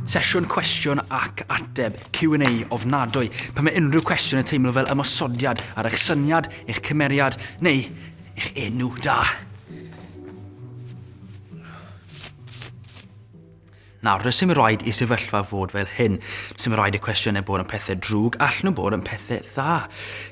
Sesiwn cwestiwn ac ateb, Q&A, ofnadwy. Pan mae unrhyw cwestiwn yn teimlo fel ymosodiad ar eich syniad, eich cymeriad, neu eich enw da. Nawr, does dim rhaid i sefyllfa fod fel hyn. Does dim rhaid i cwestiynau bod yn pethau drwg, allan nhw bod yn pethau dda,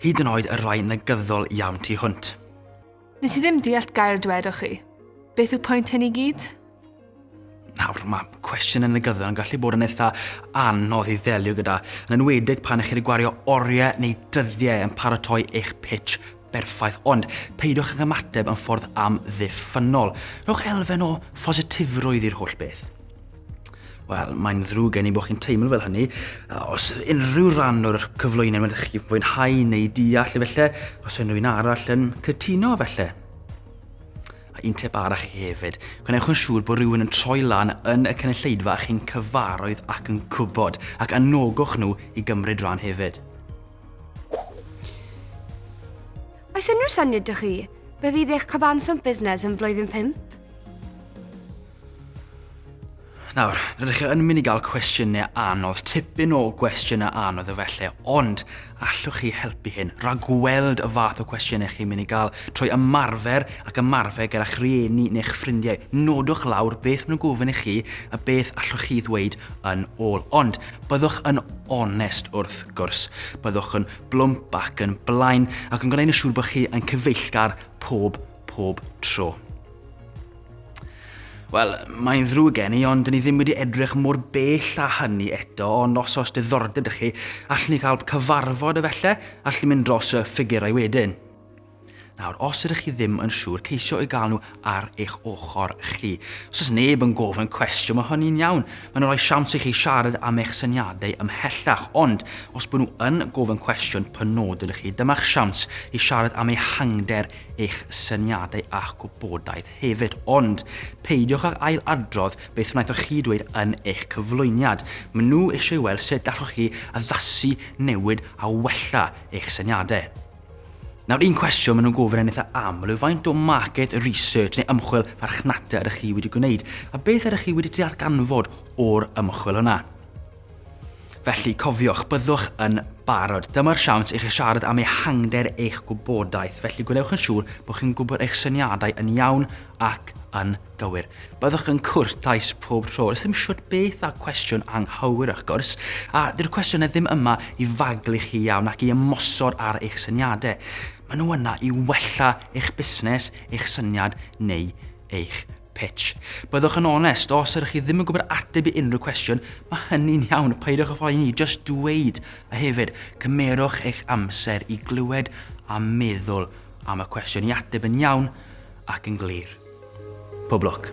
hyd yn oed y rhai negyddol iawn tu hwnt. Nes i ddim deall gair dwedoch chi. Beth yw pwynt hyn i gyd? Nawr, mae cwestiwn yn y gyddol yn gallu bod yn eitha anodd i ddelio gyda, yn enwedig pan ych chi wedi gwario oriau neu dyddiau yn paratoi eich pitch berffaith, ond peidiwch ag ymateb yn ffordd amddiffynnol. Rhowch elfen o phositifrwydd i'r holl beth. Wel, mae'n ddrwg gen i bod chi'n teimlo fel hynny. Os unrhyw rhan o'r cyflwyniad mae'n chi fwynhau neu deall efallai, os unrhyw un arall yn cytuno efallai. A un tip arall i hefyd, gwnewch yn siŵr bod rhywun yn troi lan yn y cynulleidfa a chi'n cyfaroedd ac yn gwybod, ac anogwch nhw i gymryd rhan hefyd. Oes unrhyw syniad dych chi beth fydd eich cyfanswm busnes yn flwyddyn 5? Nawr, rydych chi yn mynd i gael cwestiynau anodd, tipyn o gwestiynau anodd efallai, ond allwch chi helpu hyn, ragweld y fath o cwestiynau chi'n mynd i gael, trwy ymarfer ac ymarfer gyda'ch rhieni neu'ch ffrindiau. Nodwch lawr beth maen nhw'n gofyn i chi a beth allwch chi ddweud yn ôl. Ond Byddwch yn onest wrth gwrs, byddwch yn blwmp ac yn blaen ac yn gwneud yn siŵr bod chi yn cyfeillgar pob, pob tro. Wel, mae'n ddrwg gen i, ond dyn ni ddim wedi edrych mor bell a hynny eto, ond os oes diddordeb ydych chi, allwn ni gael cyfarfod efallai, allwn ni mynd dros y ffigurau wedyn. Nawr, os ydych chi ddim yn siŵr, ceisio i gael nhw ar eich ochr chi. Os oes neb yn gofyn cwestiwn, mae hynny'n iawn. Mae'n rhoi siawns i chi siarad am eich syniadau ymhellach, ond os bod nhw yn gofyn cwestiwn penodol i chi, dyma'ch siawns i siarad am ehangder eich syniadau a'ch gwybodaeth hefyd. Ond peidiwch ag ail adrodd beth wnaethoch chi dweud yn eich cyflwyniad. Mae nhw eisiau weld sut allwch chi addasu, newid a wella eich syniadau. Nawr un cwestiwn maen nhw'n gofyn yn eitha aml yw faint o market research neu ymchwil farchnata ydych chi wedi gwneud a beth ydych chi wedi darganfod o'r ymchwil yna. Felly, cofiwch, byddwch yn barod. Dyma'r siawns i chi siarad am ehangder eich gwybodaeth, felly gwnewch yn siŵr bod chi'n gwybod eich syniadau yn iawn ac yn Gywir. Byddwch yn cwrtais pob tro. Does dim siwt beth a cwestiwn anghywir wrth gwrs, a dyw'r cwestiynau ddim yma i faglu chi iawn ac i ymosod ar eich syniadau. Maen nhw yna i wella eich busnes, eich syniad neu eich pitch. Byddwch yn onest, os ydych chi ddim yn gwybod ateb i unrhyw cwestiwn, mae hynny'n iawn, peidiwch â phoeni, just dweud, a hefyd, cymerwch eich amser i glywed a meddwl am y cwestiwn i ateb yn iawn ac yn glir. Pob lwc.